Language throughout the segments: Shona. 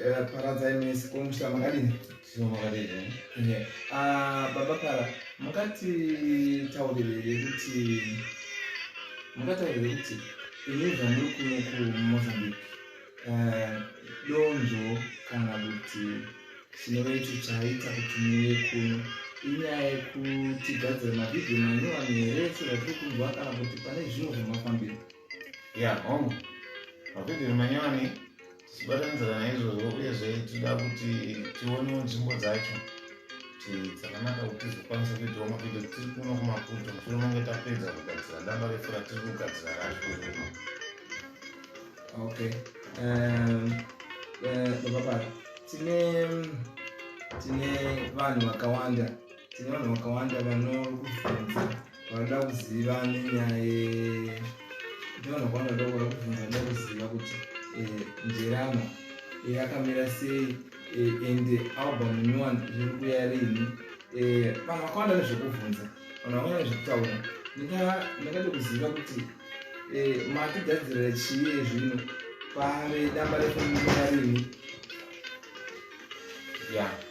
Eh, paradzai mese ko musha makadini eh, ah, baba para mukati taurire kuti mukataurire kuti ini zvamuri kuno kumozambique eh, donzvo kana kuti chinove icho chaita kuti muve kuno inyaya yekutigadzira mavhidhiyo manyowani here sezvatiri kunzwa kana kuti pane zvimwe zvamafambira ya hongu mapedhero manyowani tichibatanizana naizvozvo uyezve tinoda kuti tionewo nzvimbo dzacho kuti dzakanaka kuti tizokwanisa kuitawo mapedhero tiri kuno kumaputo mushure monge tapedza kugadzira damba refu ratiri kugadzira racho rino okay um, uh, baba pari tine tine vanhu vakawanda tine vanhu vakawanda vanokubvunza vanoda kuziva nenyaya ye ndiona kwavanoda kuda kubvunza vanoda kuziva kuti eh, njerama eh, yakamira sei eh, and album nyowani zviri kuya rini vanhu vakawanda nezvekubvunza vanhu vakawanda nezvekutaura ndakada kuziva kuti makigadzirira chii ezvino pave damba rekumira rini ya yeah.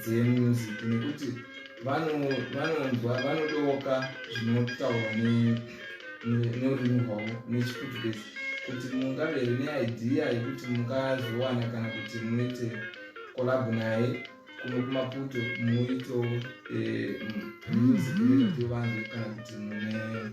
dzemusic nekuti vanonzwa vanodoka zvinotaurwa norurimi rwavo nechiportuguese kuti mungave here neidea yekuti mungazowana kana kuti muite kolabo naye kuno kumaputo muito eh, music mm-hmm. nevanzwe kana kuti mune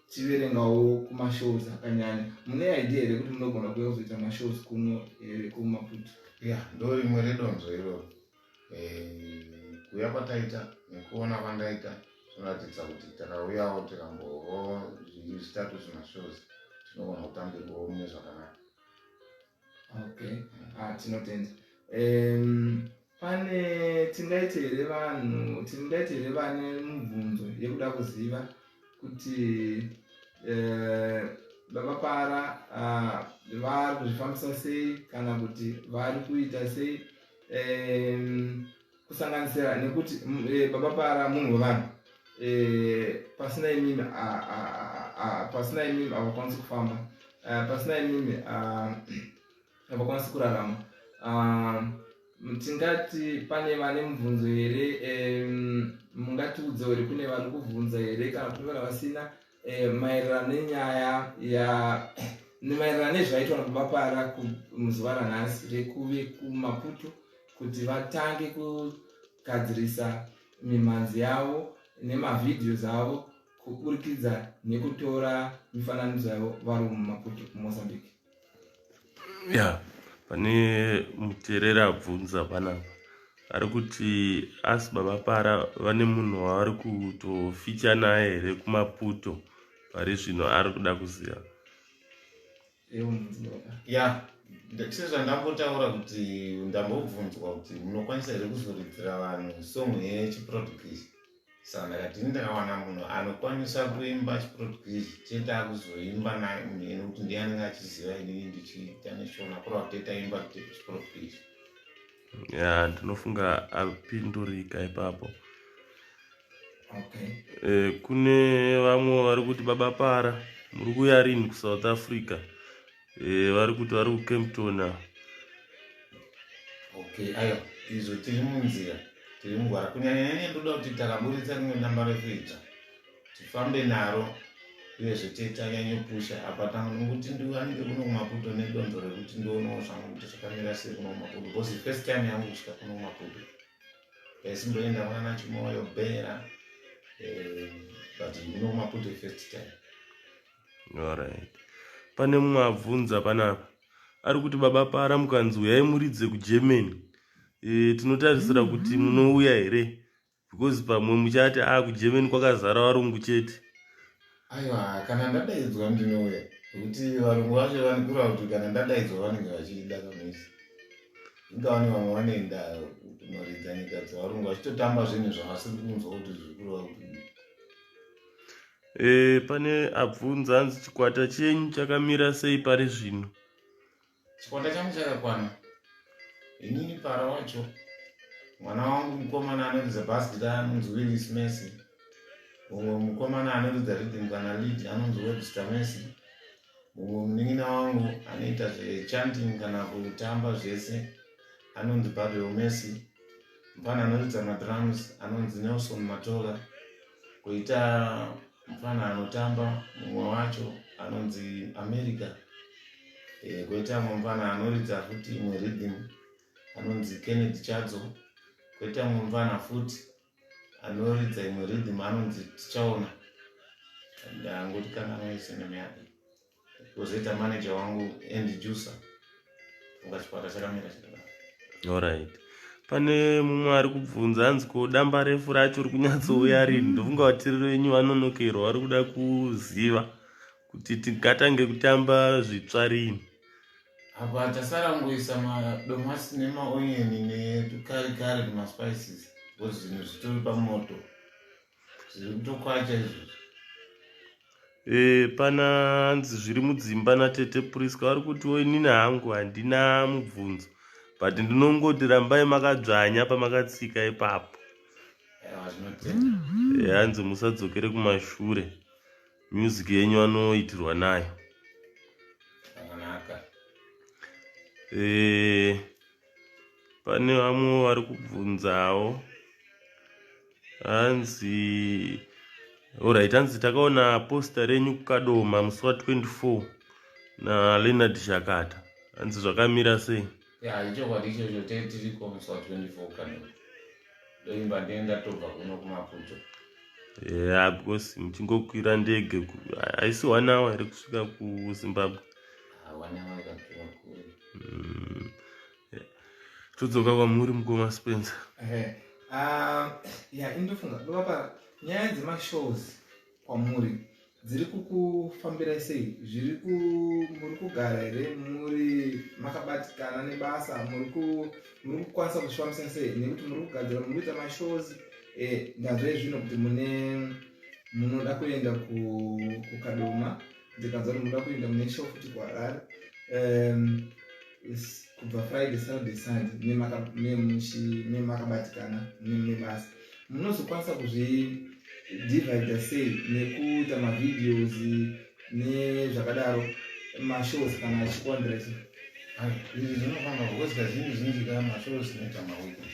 tiverengawo kumashows akanyanya mune idea here kuti munogona kuya kuzoita mashows kuno here eh, kumaputo ya ndo rimwe redonzo iroro eh, kuya kwataita nekuona kwandaita zvinoratidza kuti takauyawo tikambovo zvitatu zvimashows tinogona kutambirwawo mune zvakanaka okay ah tinotenda um, pane tingaite here vanhu tingaite here vane mubvunzo yekuda kuziva kuti eh, baba para ah, vari kuzvifambisa sei kana kuti vari kuita sei um, kusanganisira nekuti mm, eh, baba para munhu wevanhu eh, pasina imimi pasina imimi havakwanisi kufamba eh, pasina imimi havakwanisi kurarama tingati pane vane mubvunzo here mungatiudza here kune vari kubvunza here kana kuti vana vasina eh, maererano nenyaya ya maererano nezvaitwa nababa para muzuva ranhasi rekuve kumaputo kuti vatange kugadzirisa mimhanzi yavo nemavhidhios avo kuburikidza nekutora mifananidzo yavo vari mumaputo mumozambique ya pane muterera abvunza panapa ari kuti asi baba para vane munhu wavari kutoficha naye here kumaputo pari zvino ari kuda kuziva ya sezvandambotaura kuti ndambobvunzwa kuti munokwanisa here kuzoridzira vanhu song yechiproducase Saka ndakati ndakawana munhu anokwanisa kuimba chiportuguese chetakuzoimba naye munhu ene kuti ndiye anenge achiziva inini ndichiita neshona kurava kuti taimba chiportuguese ya ndinofunga apindurika ipapo okay. e, kune vamwe vari kuti baba para muri kuya rini kusouth africa Eh, vari kuti vari kucampton a okay ayo izvo tiri munzira tiri mugwara kunyanyanyanya ndoda kuti takaburitsa rimwe damba rekuita tifambe naro uyezve tetanyanyopusha apa tangu nokuti ndiwanike kuno kumaputo nedonzo rekuti ndionawo zvangu kuti zvakamira sei kuno kumaputo because first time yangu kusvika kuno kumaputo ndaisimboenda kuna nachimoyo bhera eh, but kuno kumaputo first time Alright. Pane mumwe abvunza panapa ari kuti baba para mukanzi uyai muridze kugermany e, tinotarisira mm-hmm. kuti munouya here because pamwe muchati a ah, kugermany kwakazara varungu chete aiwa kana ndadaidzwa ndinouya nekuti varungu vacho vanikura kuti kana ndadaidzwa vanenge vachida kamisi ingavane vamwe vanoenda kunoridza nyika dzevarungu vachitotamba zvinhu zvavasiri kunzwa kuti zvikurwa kuti E, pane abvunza hanzi chikwata chenyu chakamira sei pari zvino? Chikwata changu chakakwana. Inini para wacho mwana wangu mukomana anoridza bas gita anonzi Willis Messi. Mumwe mukomana anoridza rhythm kana lead anonzi Webster Messi. Mumwe munin'ina wangu anoita zvechanting kana kutamba zvese anonzi Babel Messi. Mupana anoridza madrums anonzi Nelson Matola. Koita mfana anotamba mumwe wacho anonzi America. Eh, koita mumwe mfana anoridza futi imwe rhythm anonzi Kennedy Chadzo. Koita mumwe mfana futi anoridza imwe rhythm anonzi Tichaona. Ndangoti kana maisene myake. kozoita manager wangu and jusa funga chikwata chakamira chakadaro alright pane mumwe ari kubvunza hanzi ko damba refu racho rikunyatsovuya rini ndofunga vatiri venyu vanonokerwa vari kuda kuziva kuti tingatange kutamba zvitsva rini apa tasara kungoisa madomasi nemaonyeni netukarikari nemaspices because zvinhu zvitori pamoto zvirikutokwacha izvozvo e, eh, pana hanzi zviri mudzimba natete prisca vari kutiwo inini hangu handina mubvunzo but ndinongoti rambai makadzvanya pamakatsika ipapo eh, hanzi musadzokere kumashure music yenyu anoitirwa nayo e, pane vamwe vari kubvunzawo hanzi orit hanzi takaona posta renyu kukadoma musi wa 24 naleonard shakata hanzi zvakamira sei ya ichokwadi ichocho te tiriko musi wa 24 kukadoma ndoimba ndee ndatobva kuno kumaputo ya yeah, because muchingokwira ndege haisi one hour here kusvika kuzimbabwe todzoka kwamuri mukoma spencer ah, ya indofunga ndovapa nyaya dzemashows kwamuri dziri kukufambirai sei zviri muri kugara here muri makabatikana nebasa muri kukwanisa kuzvifambisa sei nekuti muri kugadzira muri kuita mashows eh, ndazve zvino kuti mune munoda kuenda kukadoma ndikanzwa kuti muda kuenda mune show futi kuharare um, kubva friday saturday sunday nemakabatikana nebasa munozokwanisa kuzvidivida sei nekuita mavideos nezvakadaro mashows kana achikondireti izvi zvinofamba kukozika zvinhu zvinji kaa mashows neta maweekend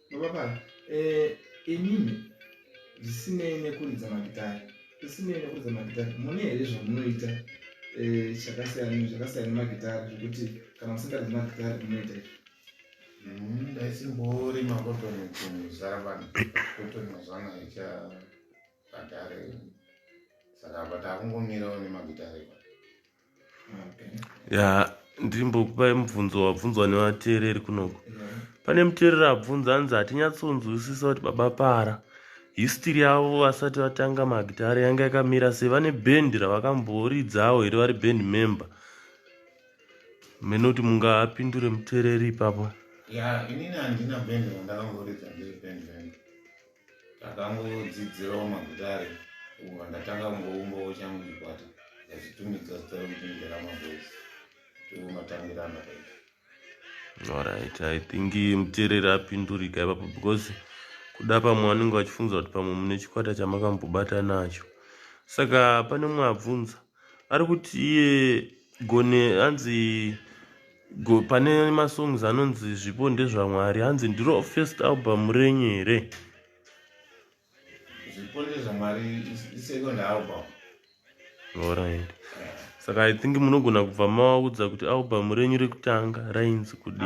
Mababa, eh, inini zvisinei nekuridza magitari zvisinei nekuridza magitari mune here zvamunoita eh, chakasiyana zvakasiyana nemagitari zvekuti kana musingaridzi magitari munoita izvi mm, ndaisimborima kotoni kuzara vanhu kotoni mazwana icha gitari saka apa takungomirawo nemagitari ya ndirimbokupai mubvunzo wabvunzwa nevateereri kunoko pane muteereri abvunza anzi hatinyatsonzwisisa kuti baba para histiri yavo vasati vatanga magitare yanga yakamira sei vane bhendi ravakamboridzawo here vari bhendi member mene kuti mungapindure muteereri ipapo ya inini handina bhendi randakamboridza ndiri bhendi member Ndakangodzidzirawo magitare uko ndatanga kungoumbawo changu chikwata ndachitumidza zita rekuti nderama boys tomatambira andakaita alright i think muteereri apindurika ipapo because kuda pamwe vanenge vachifunza kuti pamwe mune chikwata chamakambobata nacho saka pane mumwe abvunza ari kuti iye gone anzi go, pane masongs anonzi zvipo ndezvamwari hanzi ndiro first album renyu here zvipo ndezvamwari isecond album orit saka i think munogona kubva mawaudza kuti album renyu rekutanga rainzi kudii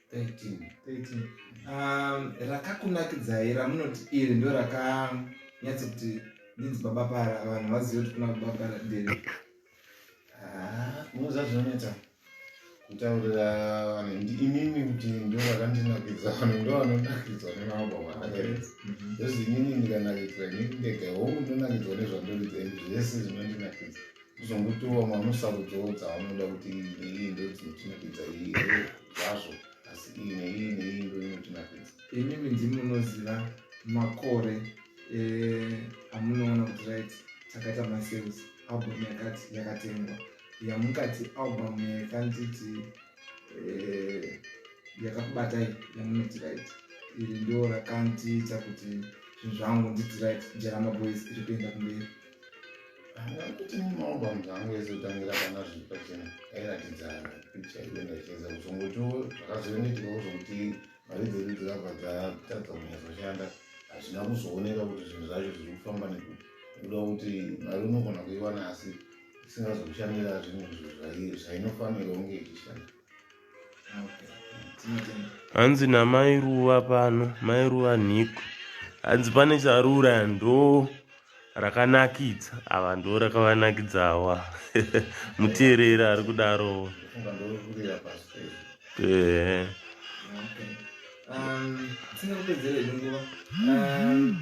13 um, rakakunakidzai ramunoti iri ndo rakanyatso kuti ndinzi baba para vanhu vazive kuti kuna baba para ndiri ah, unoziva zvinoneta kutaurira vanhu ndi inini kuti ndo vakandinakidza vanhu ndo vanonakidzwa nemababa vaakarezi mhm. zvozi inini ndikanakidzwa inini ndega hongu ndonakidzwa nezvandoridza izvi zvese zvinondinakidza kuzongotiwo mamwe sarudzo dzaanoda kuti iyi neiyi ndo dzinotinakidza iyi zvazvo asi iyi neiyi neiyi ndo inotinakidza imi minzi munoziva makore eh, amunoona kuti right takaita masales album yakati yakatengwa yamukati album yakanditi eh, yakakubatai yamunoti right iri ndo rakandiita kuti zvinhu zvangu nditi right njeramaboys iri kuenda kumberi kuti maomba munhu angu ese tangira pana zviri pachena airatidza picha iyo ndacheza kuzongotiwo zvakazoendetika kuzonguti mari dzedu dzikabva dzatadza kunyazoshanda hazvina kuzooneka kuti zvinhu zvacho zviri kufamba nekuti kuda kuti mari unogona kuiwana asi isingazokushandira zvimwe zvainofanirwa kunge ichishanda hanzi namai ruva pano mai ruva nhiko hanzi pane charura ndo rakanakidza ava ndo rakavanakidzawa muteereri ari kudaro ehe um, um,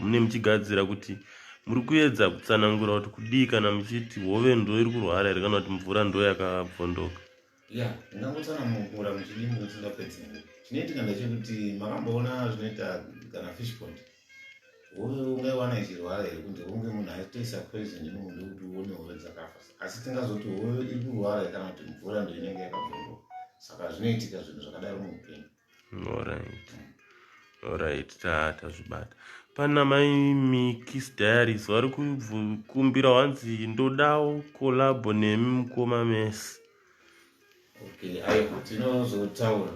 Mune muchigadzira kuti muri kuedza kutsanangura kuti kudii kana muchiti hove ndo iri kurwara here kana kuti mvura ndo yakabvondoka ya ndangotsanangura muchidii mukusingapedzi chinoitika ndechekuti makamboona zvinoita kana fish pond hove ungaiwana ichirwara here kunze kunge munhu aitoisa poison imumunde kuti uone hove dzakafa asi tingazoti hove iri kurwara kana kuti mvura ndo inenge yakabvondoka saka zvinoitika zvinhu zvakadaro muupenyu Alright. Alright, ta tazvibata. Pana mai Mikis Diaries vari kukumbira wanzi ndodawo collab nemi mukoma Messi. Okay, ayo tinozotaura.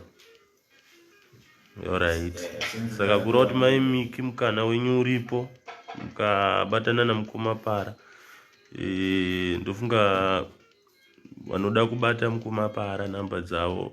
Alright. Eh, Saka kureva kuti mai Miki mukana wenyu uripo mukabatana namukoma Para. Eh, ndofunga vanoda kubata mukoma Para namba dzavo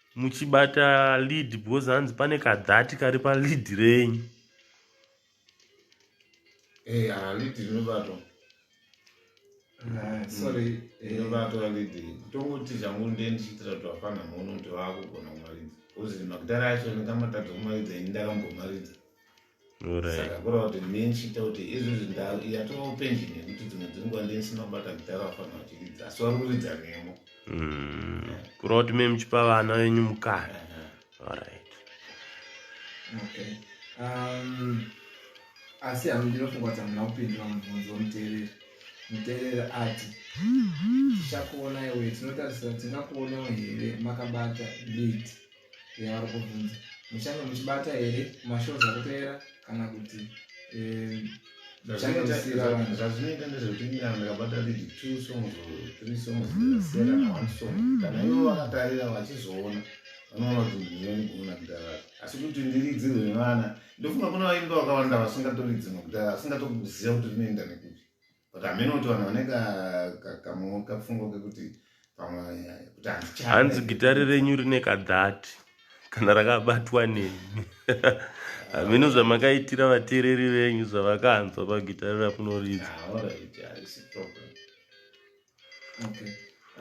muchibata lead because hanzi pane kadhati kari palead renyu eh, ah, lead rinobatwa ah, sorry mm. eh, inobatwa lead tongoti zvangu ndiye ndichiitira kuti vafana muone kuti vaakugona kumaridza bcause magitare acho ndingamatadza kumaridza ini ndakambomaridza saka kureva kuti ndine ndichiita kuti izvi zvinhu yatova upenjini yekuti dzimwe dzenguva ndine ndisina kubata gitara vafanira vachiridza asi vari kuridza nemo mm. kureva kuti me muchipa vana venyu mukana orit okay um, asi hami ndinofunga kuti hamuna kupindura mubvunzo womuteereri muteereri ati tichakuona iwe tinotarisira tingakuonawo here makabata lid yavari kubvunza muchange muchibata here mashows akupera kana kuti eh, zvazvinoita ndezvekuti nyana ndakabata lidi two songs or three songs dzakasiyana na one song kana ivo vakatarira vachizoona vanoona kuti ndinoni kuona kudhara asi kuti ndiridzi rwevana ndofunga kune vaimba vakawanda vasingatori dzimwe kudhara vasingatokuziva kuti rinoenda nekuti but hameno kuti vanhu vane kafungo kekuti hanzi gitari renyu rine kadhati kana rakabatwa nemi hameno zvamakaitira vateereri venyu zvavakanzwa pagitari rakunoridza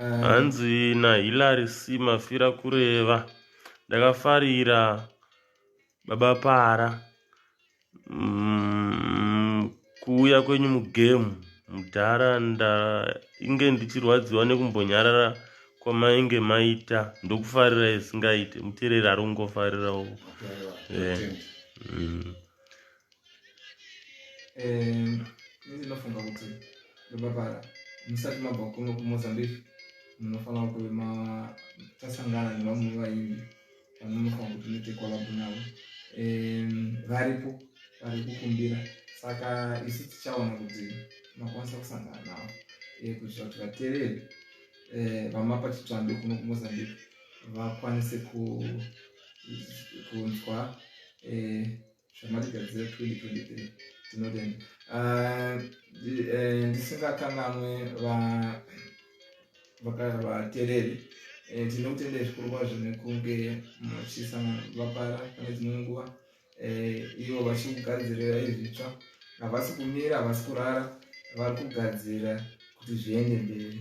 ah, hanzi nahilary c mafira kureva ndakafarira Baba para umm kuuya kwenyu mugame mudhara ndainge ndichirwadziwa nekumbonyarara kwamainge maita ndokufarira isingaite mutereri ari kungofarirawo eh, mm. eh, ndinofunga kuti baba para musati mabva kuno kumozambique munofanira kuve tasangana nevamwe vaimbi vanonofanira kuti uite collab navo varipo vari kukumbira saka isu tichaona kuti makwanisa kusangana navo eh, kuitira kuti vatereri eh, vamapa chitsvambe kuno kumozambique vakwanise kunzwa eh, zvamatigadzira 2023 tinotenda ah, eh, ndisingakanganwe vatereri eh, tinotenda zvikuru kwazvo nekunge muchisangana vapara pane dzimwe nguva eh, ivo vachikugadzirira izvitsva havasi kumira havasi kurara vari kugadzira kuti zviende mberi